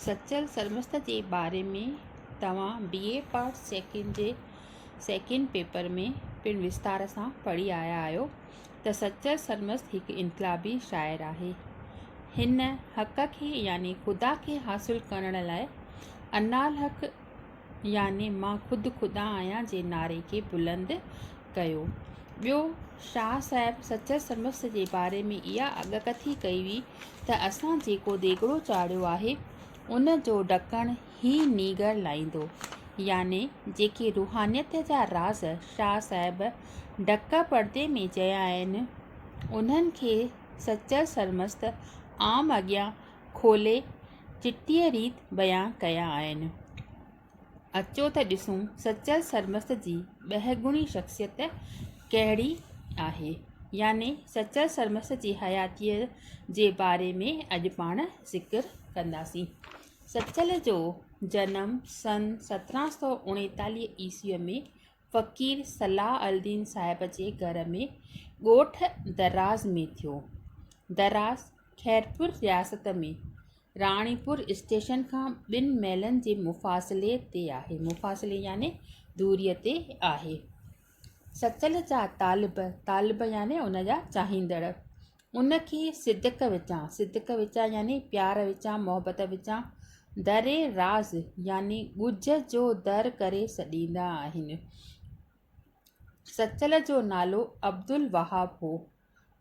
سچل سرمست جي باري ۾ توهان بي اي پارٽ سيڪنڊ جي سيڪنڊ پيپر ۾ پڻ وستار سان پڙهي آيا آهيو ته سچل سرمست هڪ انقلابي شاعر آهي. هن حق کي يعني خدا کي حاصل ڪرڻ لاء انالحق يعني مان خود خدا آهيان جي نعري کي بلند ڪيو. ٻيو شاهه صاحب سچل سمسٽ جي باري ۾ اها اڳڪٿي ڪئي هئي ته اسان جيڪو ديڳڙو چاڙهيو آهي ان جو ڍڪڻ هي نينگر لائيندو. يعني جيڪي روحانيت جا راز شاهه صاحب ڍڪ پڙدي ۾ چيا آهن انهن کي سچل سرمست عام اڳيان کولي چٽيء ريت بيان ڪيا آهن. اچو ته ڏسون سچل سرمست جي ٻهگڻي شخصيت ڪهڙي آهي يعني سچل سرمست جي حياتيء جي باري ۾ اڄ پاڻ ذڪر ڪنداسين. سچل جو جنم سن سترهن سؤ اڻيتاليهه عيسويء ۾ فقير صلاح الدين صاحب جي گهر ۾ ڳوٺ دراز ۾ ٿيو. دراز خيرپور رياست ۾ راڻيپور اسٽيشن کان ٻن ميلن جي مفاصلي تي آهي، مفاصلي يعني دوريء تي آهي. سچل جا طالب، طالب يعني ان جا چاهيندڙ، ان کي صدق وچان، صدق وچان يعني پيار وچان، محبت وچان، در راز يعني ڳجهه جو در ڪري سڏيندا آهن. سچل جو نالو عبدالوهاب هو.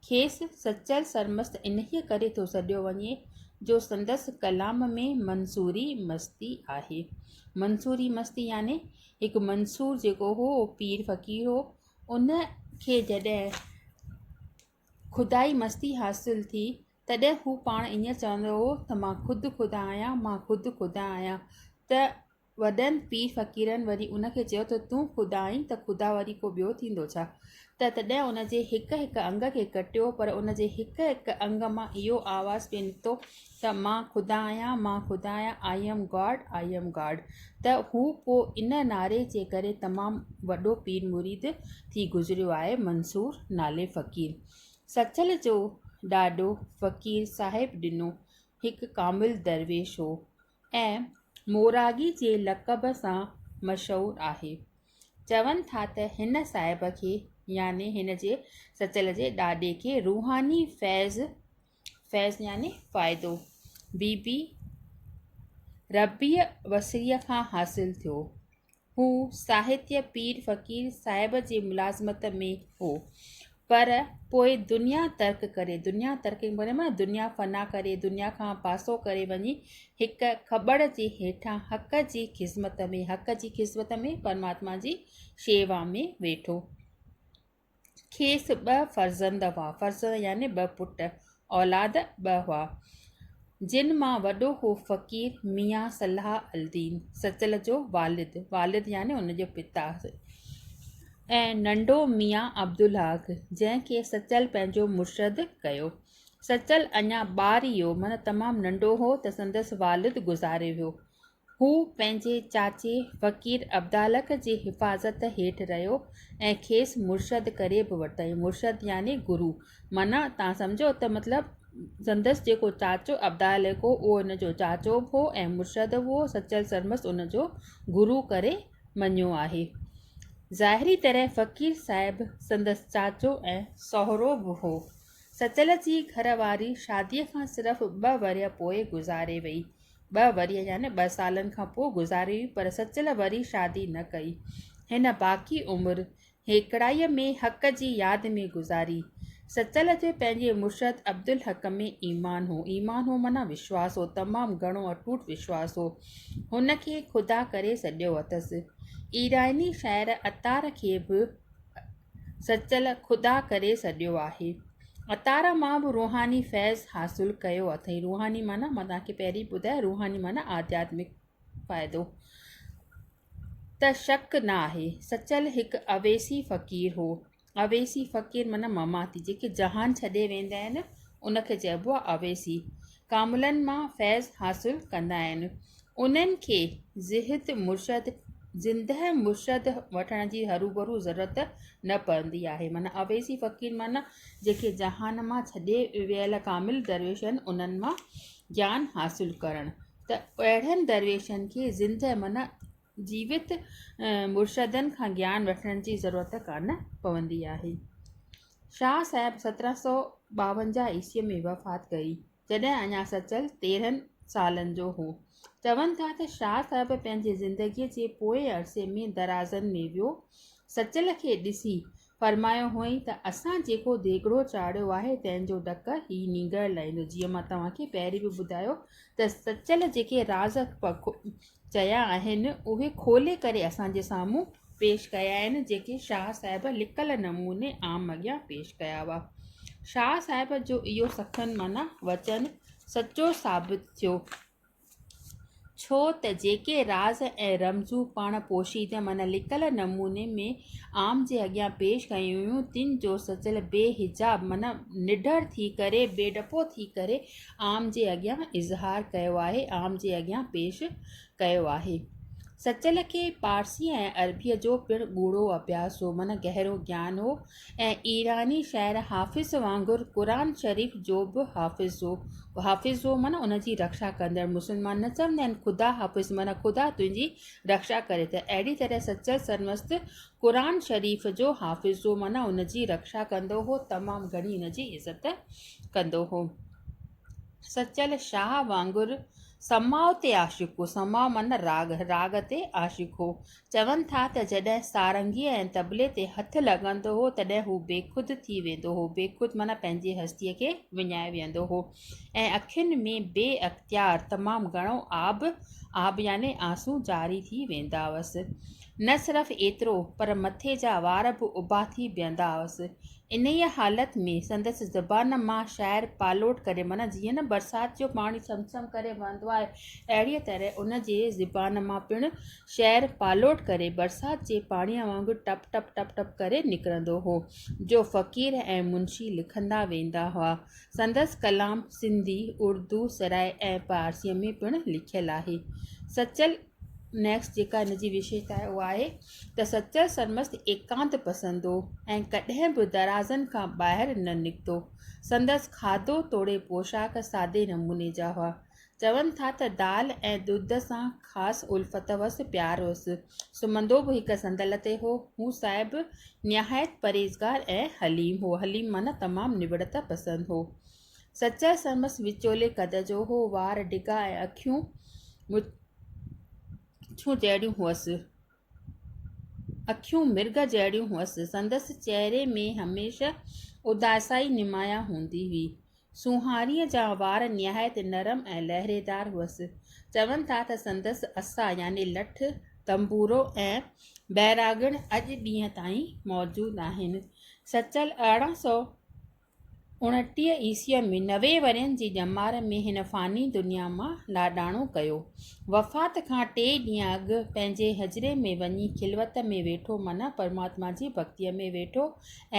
کيس سچل سرمست انهيء ڪري ٿو سڏيو وڃي جو سندس ڪلام ۾ منصوري مستي آهي. منصوري مستي يعني هڪ منصور جيڪو هو، پير فقير هو، ان کي جڏهن خدائي مستي حاصل ٿي، تڏهن هو پاڻ ائين چوندو هو ته مان خود خدا آهيان، مان خود خدا آهيان. ته وڏن پير فقيرن وري ان کي چيو ته تون خدا آهين ته خدا وري ڪو ٻيو ٿيندو ڇا؟ ته تڏهن ان جي هڪ هڪ انگ کي ڪٽيو پر ان جي هڪ هڪ انگ مان اهو آواز پئي نڪتو ته مان خدا آهيان، مان خدا آهيان، I am God، I am God، ته هو پوء ان نعري جي ڪري تمام وڏو پير مريد ٿي گذريو آهي منصور نالي فقير سچل جو ڏاڏو فقير صاحب ڏنو هڪ ڪامل درويش هو ۽ موراڳي جي لقب سان مشهور آهي چون ٿا ته هن صاحب کي يعني هن جي سچل جي ڏاڏي کي روحاني فيض فيض يعني فائدو بي بي ربيع وسيع کان حاصل ٿيو. هو ساهتيه پير فقير صاحب جي ملازمت ۾ هو، پر پوء دنيا ترڪ ڪري، دنيا ترڪ ڪري معنيٰ دنيا فنا ڪري، دنيا کان پاسو ڪري وڃي هڪ کٻڙ جي هيٺان حق جي خذمت ۾، حق جي خذمت ۾ پرماتما جي شيوا ۾ ويٺو. کيس ٻه فرزند هئا، فرزند يعني ٻه پٽ، اولاد ٻه هئا، جن مان وڏو هو فقير ميان صلاح الدين سچل جو والد، والد يعني ان جو پتا، ۽ ننڍو ميان عبدالحق، جنهن کي سچل پنهنجو مرشد ڪيو. سچل اڃا ٻارڙيو معنيٰ تمام ننڍو هو ته سندس والد گذاري ويو. هو پنهنجي چاچي فقير عبدالحق جي حفاظت هيٺ رهيو ۽ کيس مرشد ڪري به ورتائين. مرشد يعني گرو. معنيٰ تان سمجهو ته مطلب سندس جيڪو چاچو عبدالحق هو اهو هن جو چاچو به هو ۽ مرشد به هو. سچل سرمست ان جو گرو ڪري مڃيو آهي. ظاهري طرح فقير صاحب سندس چاچو ۽ سهرو به هو. سچل جي گهر واري شاديء کان صرف ٻه ورهيه پوء گذاري وئي. ٻه ورهيه يعني ٻه سالن کان پوء گذاري هئي پر سچل وري شادي نه ڪئي. هن باقي عمر هيڪڙائيء ۾ حق جي ياد ۾ گذاري. سچل جو پنهنجي مرشد عبدالحق ۾ ايمان هو. ايمان هو معنيٰ وشواس هو، تمام گهڻو اٽوٽ وشواس هو. هن کي خدا ڪري سڏيو اٿس. ايراني شاعر عطار کي به. سچل خدا ڪري سڏيو آهي. عطاره مان به روحاني فيض حاصل ڪيو اٿئي. روحاني معنيٰ مان توهان کي پهرين ٻڌايو روحاني معنيٰ آڌياتمڪ فائدو ته شڪ نه آهي. سچل هڪ اويسي فقير هو. اويسي فقير معنيٰ مماتي جيڪي جهان ڇڏي ويندا آهن ان کي چئبو آهي اويسي. ڪاملن مان فيض حاصل ڪندا آهن انهن کي زهد مرشد زندهه مرشد وٺڻ جي هروڀرو ضرورت نه پوندي آهي معنيٰ اويسي فقير معنيٰ جيڪي جهان مان ڇڏي ويل ڪامل درويش آهن انهن مان گيان حاصل ڪرڻ ته اهڙن درويشن کي زندهه معنيٰ جيوت مرشدن کان گيان وٺڻ جي ضرورت ڪانه پوندي آهي. شاهه صاحب سترهن سؤ ٻاونجاهه عيسويء ۾ وفات ڪئي، جڏهن اڃا سچل تيرهن سالن جو هو. چون ٿا ته شاهه صاحب پنهنجي زندگيء جي پوئين عرصي ۾ درازن ۾ ويو. سچل کي ڏسي فرمايو هئائين ته اسان جيڪو ديڳڙو چاڙهيو آهي تنهن جو ڍڪ هي نينگر لائيندو جيئن مان توهان کي پهرين به ٻڌايو ته سچل جيڪي راز چيا آهن اهي کولي ڪري اسان جي سامهون پيش ڪيا آهن جيڪي شاهه صاحب لڪل نموني عام اڳيان پيش ڪيا هئا شاهه صاحب جو اهو سخن معنيٰ وچن سچو ثابت ٿيو ڇو ته جيڪي راز ۽ رمزون پاڻ پوشيده معنيٰ لڪل نموني ۾ عام جي اڳيان پيش ڪيون ويون تن جو سچل بي حجاب معنيٰ نڍر ٿي ڪري بي ڊپو ٿي ڪري عام جي اڳيان اظهار ڪيو آهي عام جي اڳيان پيش ڪيو آهي سچل کي پارسي ۽ عربيء جو پڻ ڳوڙهو اڀياس هو معنيٰ گهرو گيان هو ۽ ايراني شاعر حافظ وانگر قرآن شريف جو به حافظ هو. حافظ هو معنيٰ ان جي رکشا ڪندڙ. مسلمان نه چوندا آهن خدا حافظ معنيٰ خدا تنهنجي رکشا ڪري ته اهڙي طرح سچل سرمست قرآن شريف جو حافظ هو معنيٰ ان جي رکشا ڪندو هو تمام گهڻي ان جي عزت ڪندو هو. سچل شاهه وانگر سماء تي عاشق هو سماء معنيٰ راڳ راڳ تي عاشق هو. چون ٿا ته جڏهن سارنگيء ۽ طبلي تي هٿ لڳندو هو، تڏهن هو بيخود ٿي ويندو هو، بيخود معنيٰ پنهنجي هستيء کي وڃائي ويهندو هو ۽ اکين ۾ بي اختيار تمام گهڻو آب، آب يعني آنسون، جاري ٿي ويندا هئس. نه صرف ايترو، پر مٿي جا وار به اڀا ٿي بيهندا هئس. انهيء حالت ۾ سندس زبان مان شاعر پالوٽ ڪري، معنيٰ جيئن نه برسات جو پاڻي سم سم ڪري وهندو آهي، اهڙيء طرح ان جي زبان مان پڻ شهر پالوٽ ڪري برسات جي پاڻيء وانگر ٽپ ٽپ ٽپ ٽپ ڪري نڪرندو هو، جو فقير ۽ منشي لکندا ويندا هئا. سندس ڪلام سنڌي، اردو، سرائي ۽ پارسيء ۾ پڻ لکيل آهي. سچل Next جيڪا هن جي وشيشتا آهي اها آهي ته سچل سرمست ايڪانت پسند هو ۽ ڪڏهن به درازن کان ٻاهر نه نڪتو. سندس کاڌو توڙي پوشاڪ سادي نموني جا هئا. چون ٿا ته دال ۽ ڏڌ سان خاص الفت هئس، پيار هئس. سمهندو به هڪ صندل تي هو. هو صاحب نهايت پرهيزگار ۽ حليم هو. حليم معنيٰ تمام نوڙت پسند هو. سچل سرمست وچولي قد جو هو. وار ڊگها ۽ اکيون مڇون جهڙيون هئس. اکيون مرغ جهڙيون هئس. سندس چهري ۾ هميشه اداسائي نمايان هوندي هئي. سونهاريء جا وار نهايت نرم ۽ لهريدار هئس. چون ٿا ته سندس عصا يعني لٺ، تنبورو ۽ بئراگڻ اڄ ڏينهن تائين موجود آهن. سچل ارڙهن سؤ اڻٽيهه عيسويء ۾ نوي ورهين جي ڄمار ۾ هن فاني دنيا مان لاڏاڻو ڪيو. وفات کان ٽي ڏينهن اڳ پنهنجي حجري ۾ وڃي خلوت ۾ ويٺو معنيٰ پرماتما جي ڀڳتيء ۾ ويٺو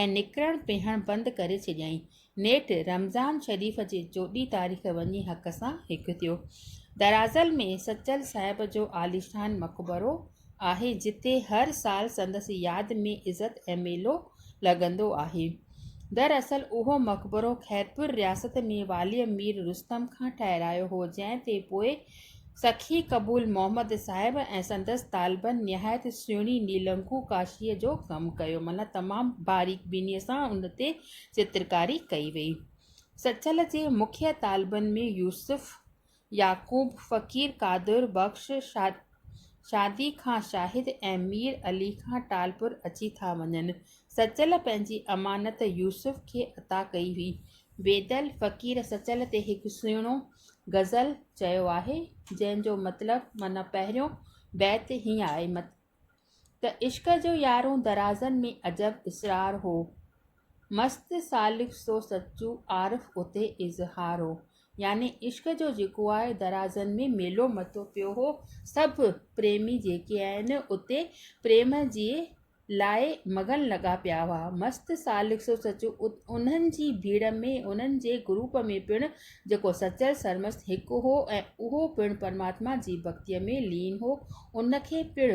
۽ نڪرڻ پهڻ بند ڪري ڇڏيائين. نيٺ رمضان شريف جي چوڏهين تاريخ وڃي حق سان هڪ ٿيو. درازل ۾ سچل صاحب جو عاليشان مقبرو آهي جتي هر سال سندس ياد ۾ عزت ۽ ميلو لڳندو آهي. دراصل اهو مقبرو خيرپور رياست ۾ واليء مير رستم کان ٺهرايو هو جنهن تي پوء سخي قبول محمد صاحب ۽ سندس طالبن نهايت سهڻي نيلنگو ڪاشيء جو ڪم ڪيو معنيٰ تمام باريڪ بينيء سان ان تي چترڪاري ڪئي وئي. سچل جي مکيه طالبن ۾ يوسف يعقوب فقير قادر بخش شادي کان شاهد ۽ مير علي کان ٽالپر اچي ٿا وڃن. سچل پنهنجي امانت يوسف کي عطا ڪئي هئي. ويدل فقير سچل تي هڪ سهڻو غزل چيو آهي، جنهن جو مطلب معنيٰ پهريون بيت هيئن آهي، ته عشق جو يارون درازن ۾ عجب اسرار هو مست سالڪ سو سچو عارف اتي اظهار هو يعني عشق جو جيڪو آهي درازن ۾ ميلو متو پيو هو سڀ پريمي جيڪي آهن اتي پريم جي لاء مگن لڳا پيا هئا مست سالڪ سو سچو انهن جي ڀيڙ ۾ انهن جي گروپ ۾ پڻ جيڪو سچل سرمست هڪ هو ۽ اهو پڻ پرماتما جي ڀڳتيء ۾ لين هو، ان کي پڻ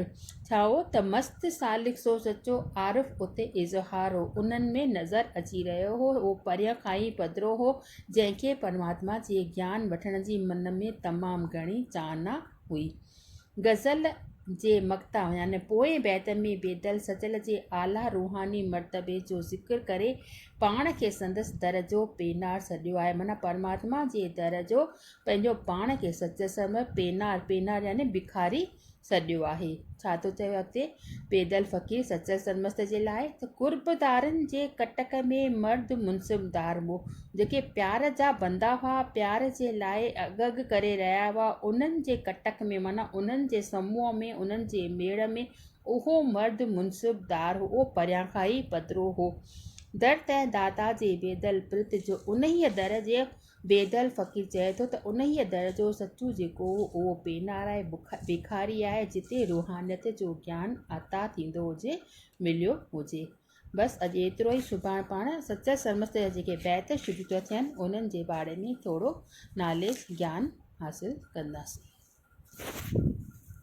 ڇاهو ته مست سالڪ سو سچو عارف اتي اظهار هو، انهن ۾ نظر اچي رهيو هو، هو پريان کان ئي پڌرو هو، جنهن کي پرماتما جي گيان وٺڻ جي من ۾ تمام گهڻي چاهنا هئي. غزل جي مقطع يعني پوئين بيتن ۾ بيدل سچل جي اعليٰ روحاني مرتبي جو ذڪر ڪري پاڻ کي سندس در جو پينار سڏيو آهي معنيٰ پرماتما جي در جو پنهنجو پاڻ کي سچل سمجهي پينار، پينار يعني بکاري، سڏيو آهي. ڇا ٿو چوي اڳتي. بيدل فقير سچل سرمست جي لاء ته قرب دارن جي ڪٽڪ ۾ مرد منصب دار مون جيڪي پيار جا بندا هئا پيار جي لاء اگهه اگهه ڪري رهيا هئا انهن جي ڪٽڪ ۾ معنيٰ انهن جي سموهه ۾ انهن جي ميڙ ۾ اهو مرد منصب دار هئو پريان کان ئي پڌرو هئو در تنهن داتا جي بيدل پرت جو انهيء در جي بيدل فقير چئي ٿو ته انهيء در جو سچو جيڪو هو اهو پينارائي بکاري آهي جتي روحانيت جو گيان عطا ٿيندو هجي مليو هجي. بس اڄ ايترو ئي سڀاڻ پاڻ سچل سرمست جا جيڪي بيت شروع ٿا ٿين انهن جي باري ۾ ٿورو ناليس گيان حاصل ڪنداسين.